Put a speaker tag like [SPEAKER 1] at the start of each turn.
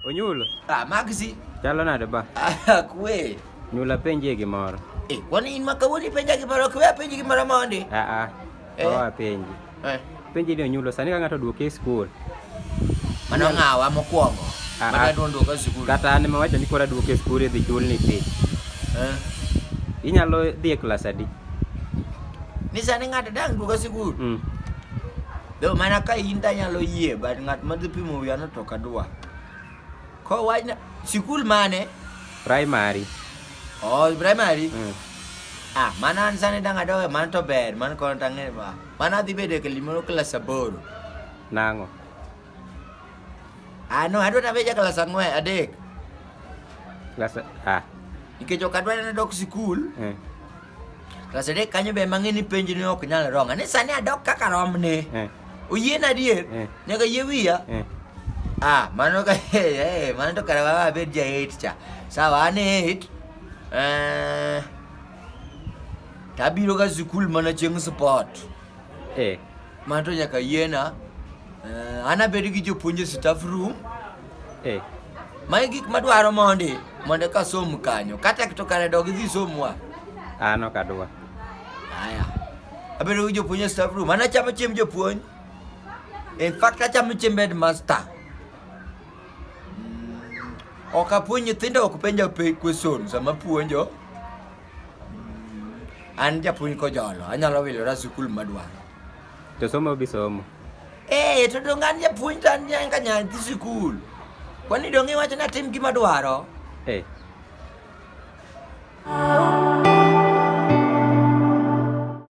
[SPEAKER 1] Onyulo. Ah, magzi.
[SPEAKER 2] Chalo nade ba?
[SPEAKER 1] Ah, kwe.
[SPEAKER 2] Nyula penje
[SPEAKER 1] gimoro. Eh, kwani in makawoni
[SPEAKER 2] penja gimoro, kwe penje gimoro mondi? Ah ah. Eh. Oa
[SPEAKER 1] penje. Eh. Penje ni onyulo sani ka ng'ato duoke e skul. Mano
[SPEAKER 2] ng'awa mokwongo. Ah, Mano ah. adwa duoka e skul. Kata an ma wacho ni kora
[SPEAKER 1] duoke e skul idhi chul ni fee. Eh. Inyalo dhi e klas adi?
[SPEAKER 2] Ni sani ng'ato dang' duoka e skul. Mm. Though mana ka in to anyalo yie but ng'at madhi pimo wiyano to ok adwa. Kowachna sikul mane? Primary.
[SPEAKER 1] Oh,
[SPEAKER 2] primary? Mm. Ah, mana an sani dang' adowe mano to ber, mano kono to ang'e ba. Mano adhi bedo e gimoro klas aboro. Nang'o? Ah, no, adwa nabedo ja klas ang'wen, adek. Klas ah. Nikech ok adwa ni nadok sikul. Mm. Klasa adek kanyo be mang'e ni penj ni ok nyal ronga ni sani adok kaka romne eh. oyien adier eh. nyaka yie wiya eh. ah mano ka eh, mano to kare wawa abed ja eight cha sawa an eight eh, tabiro ga sikul mana chieng' sport Eh. Mano to nyaka yiena. Eh, an abed gi jopuonj e staff room. Eh. Mae gik madwaro mondi mondo eka som kanyo. Kata to kare dog idhi somwa. An ok
[SPEAKER 1] adwa. Aya. Abedo
[SPEAKER 2] gi jopuonj e staff room. An achamo chiemb jopuonj. In fact achamo chiemb headmaster. Mm, Ok apuonj nyithindo ok penja pe- question sama puonjo. An japuonj kojolo, anyalo wilora sikul madwaro. To somo
[SPEAKER 1] bi somo. Eh, to
[SPEAKER 2] donge an japuonj to an nyaka nyathi sikul. Kwani donge iwacho ni atim gima dwaro? Eh.